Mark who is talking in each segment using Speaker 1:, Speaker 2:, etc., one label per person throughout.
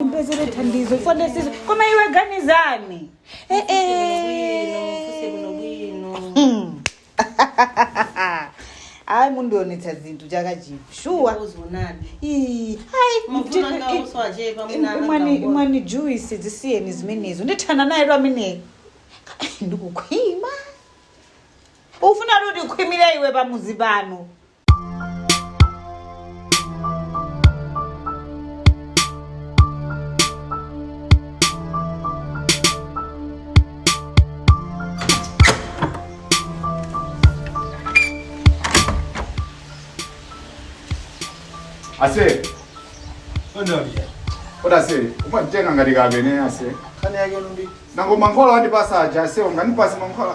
Speaker 1: ndipezere thandizo chifukwa ndesizo koma iwe ganizani Eh, eh. ayi mundionetsa zinthu chaka chino shuwa Ii, ayi, mti- i- i- imwani imwani juice zisiyeni zimenezo ndithana naye lero ameneyo ndikukhwima ufuna kuti ukhwimire iwe pamudzi pano
Speaker 2: ase Ondolia. kodi ase umanditenga ngati kapene ase Kana yake ndi.
Speaker 3: nango mankhwala
Speaker 2: andipasa aja ase unganipase mankhwala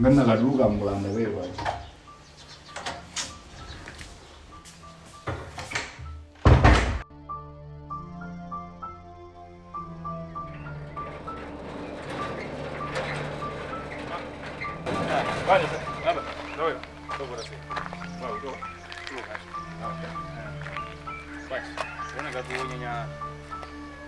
Speaker 2: Ngana kaduka mulanda wewe.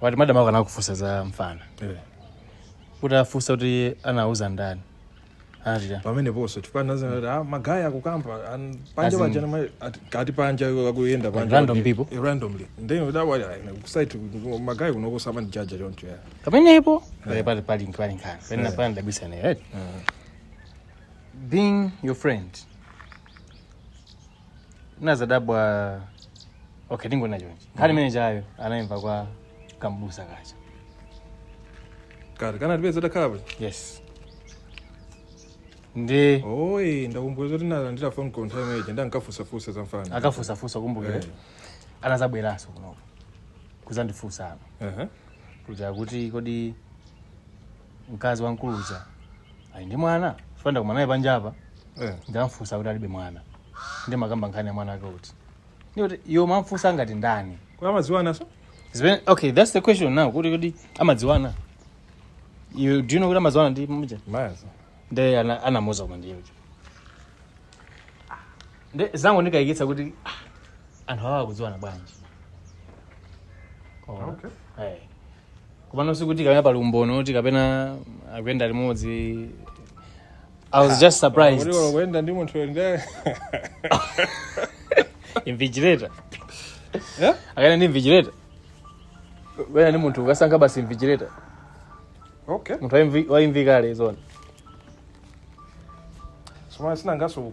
Speaker 4: wati madam ako anakufunsa za mfana uti afunsa kuti anauza ndani anatita pameneponso
Speaker 5: timfana zanati ah, magaye akukamba an- panja As in- pajana ma- ati- kati panja akuyenda panja random kuti- people? Eh,
Speaker 4: randomly
Speaker 5: then udawali kusaiti magaye kunokusama ndi jaja choncho ya pamenepo pali
Speaker 4: pali pali pali nkhani pali pena pana ndabisana right being your friend ndinazadabwa okay ndingonena chonchi nkhani imene ijayo anayimva kwa kambusa kacha kati
Speaker 5: kana tipeza takhala bwino yes
Speaker 4: ndi oyi
Speaker 5: ndakumbuka zoti nalandira phone call nthawi imeneyi ndankafunsafunsa za mfana akafunsafunsa ndakumbukira
Speaker 4: Eh. anazabweranso kunoko kuzandifunsa ano Aha. kuti akuti kodi mkazi wamkulu uja ali ndi mwana chifukwa ndakumana naye panjapa Eh. ndamfunsa akuti alibe mwana ndiye mmakamba nkhani ya mwana wake uti ndikuti iwo amamfunsa ngati ndani Amadziwana
Speaker 5: so? Zimene- okay
Speaker 4: that's the question now kuti kuti amadziwana you do you know kuti amadziwana ndi uja Mazi. nde
Speaker 5: ana-
Speaker 4: anamuuza koma ndiye uja nde zangondikayikitsa kuti ah, anthu awa akudziwana bwanji Koma, Okay. eh, komano sikuti kapena pali umboni kuti kapena akuyenda limodzi i was just surprised Kuti akuyenda ndi munthu
Speaker 5: ndi
Speaker 4: invigilator Eh? akayenda ndi invigilator kuyenda ndi munthu ukasankha basi invigilator
Speaker 5: okay munthu waimvi-
Speaker 4: waimva kale zona
Speaker 5: soma sinangaso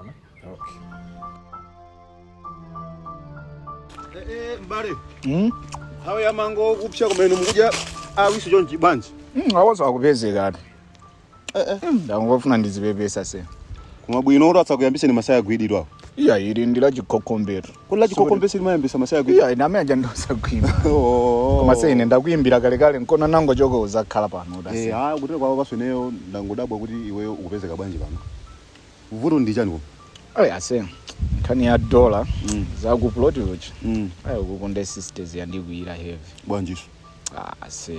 Speaker 5: Ona. Okay.
Speaker 6: Eh, eh, mbale. Mm? Awa a mango kupsha kumene mukuja awisi chonchi bwanji. Mm, awaso
Speaker 2: akupezekatu. Eh eh. Mm, ndangofuna ndizipepese ase. Koma bwino
Speaker 6: asakuyambitseni masaya kwidirira. Iya ili ndi
Speaker 2: la chikokombeto. kodi
Speaker 6: lachikokombeto limayambitsa masaya kuimba iya ine amene aja
Speaker 2: ndosagwima Oh. koma ase ine ndakuimbira kalekale nkona nangochoka uzakhala pano Eh, utasi ah, kutera kwawo nanenso ineyo
Speaker 6: ndangodabwa kuti iweyo ukupezeka bwanji pano vuto ndi chani koma ayi
Speaker 2: ase nkhani ya dolla Mm. zakuploti uchi Mm. ayi ukukonda sisters yandikwiyira heavy bwanjiso
Speaker 6: Ah, ase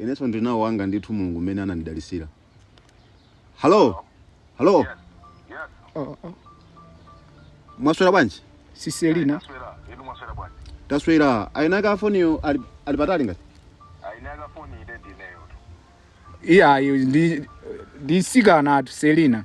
Speaker 6: inenso ndinawo wanga ndithu mulungu mmene anandidalisira halo halo Yes. Yes. Oh, oh. mwaswera bwanji siselina
Speaker 2: Taswera. Inu mwaswera bwanji.
Speaker 6: taswera ayinaka foniyo ali patali ngati Ayinaka foni
Speaker 7: ili ndineyo.
Speaker 2: iyayi ndi sikanatu selina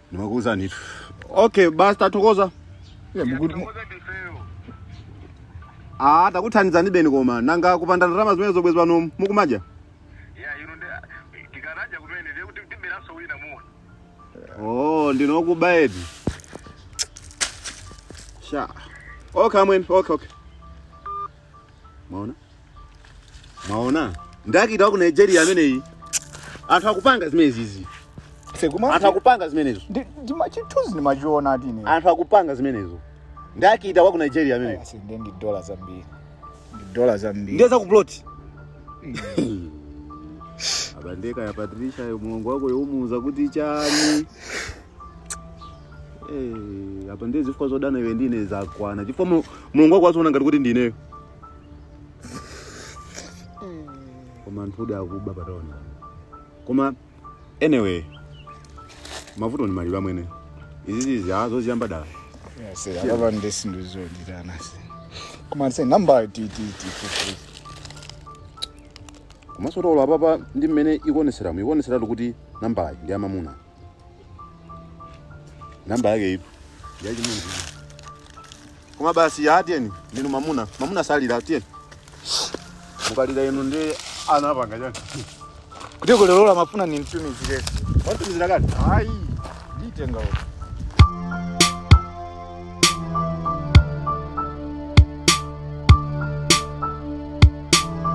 Speaker 6: ndimakuuza ndithu okay basi tathokoza Iye, muku- mu- Koza ndifeyo. ah takuthandizani beni koma nanga kupanda ndalama zimene bwezi pano mukumadya Ya ino ndi
Speaker 7: tikanadya kumene ndiye kuti tiberaso wina muona. oh
Speaker 6: ndinokuba edi sha okay amwene okay okay mwaona mwaona ndi akita waku nigeria ameneyi anthu akupanga zimenezizi anthu akupanga zimenezo ndimazithunzi
Speaker 2: ndimachiona ati ine anthu akupanga zimenezo
Speaker 6: ndi akita waku nigeria ameneyi Asi, ndiye ndi dola
Speaker 2: zambiri ndi dola zambiri ndiye
Speaker 6: zakuploti apa nde ka ya patricia yo mulongo wako yomuuza kuti chani Eh, apa ndiye zifukwa zodana iwe ndine zakwana chifukwa mu- mulongo wako waziona ngati kuti ndineyo koma anthu odi akuba pataona koma anyway mavuto ni maliro amwene izizizi azoziyamba dala Yes,
Speaker 2: akaba ndesinto ezizonditana se koma ndise number tititi
Speaker 6: komanso olo apapa ndi mmene ikuoneseramo ikuoneseratu kuti nambayi ndi amamuna namba yake ipo yachimunthu koma basi ya atiyeni ndinu mamuna mamuna salira atiyeni mukalira inu ndi ana apanga chani
Speaker 2: kuti kulero la mafuna
Speaker 6: ni
Speaker 2: mtumizire watumizira kale ayi nditenga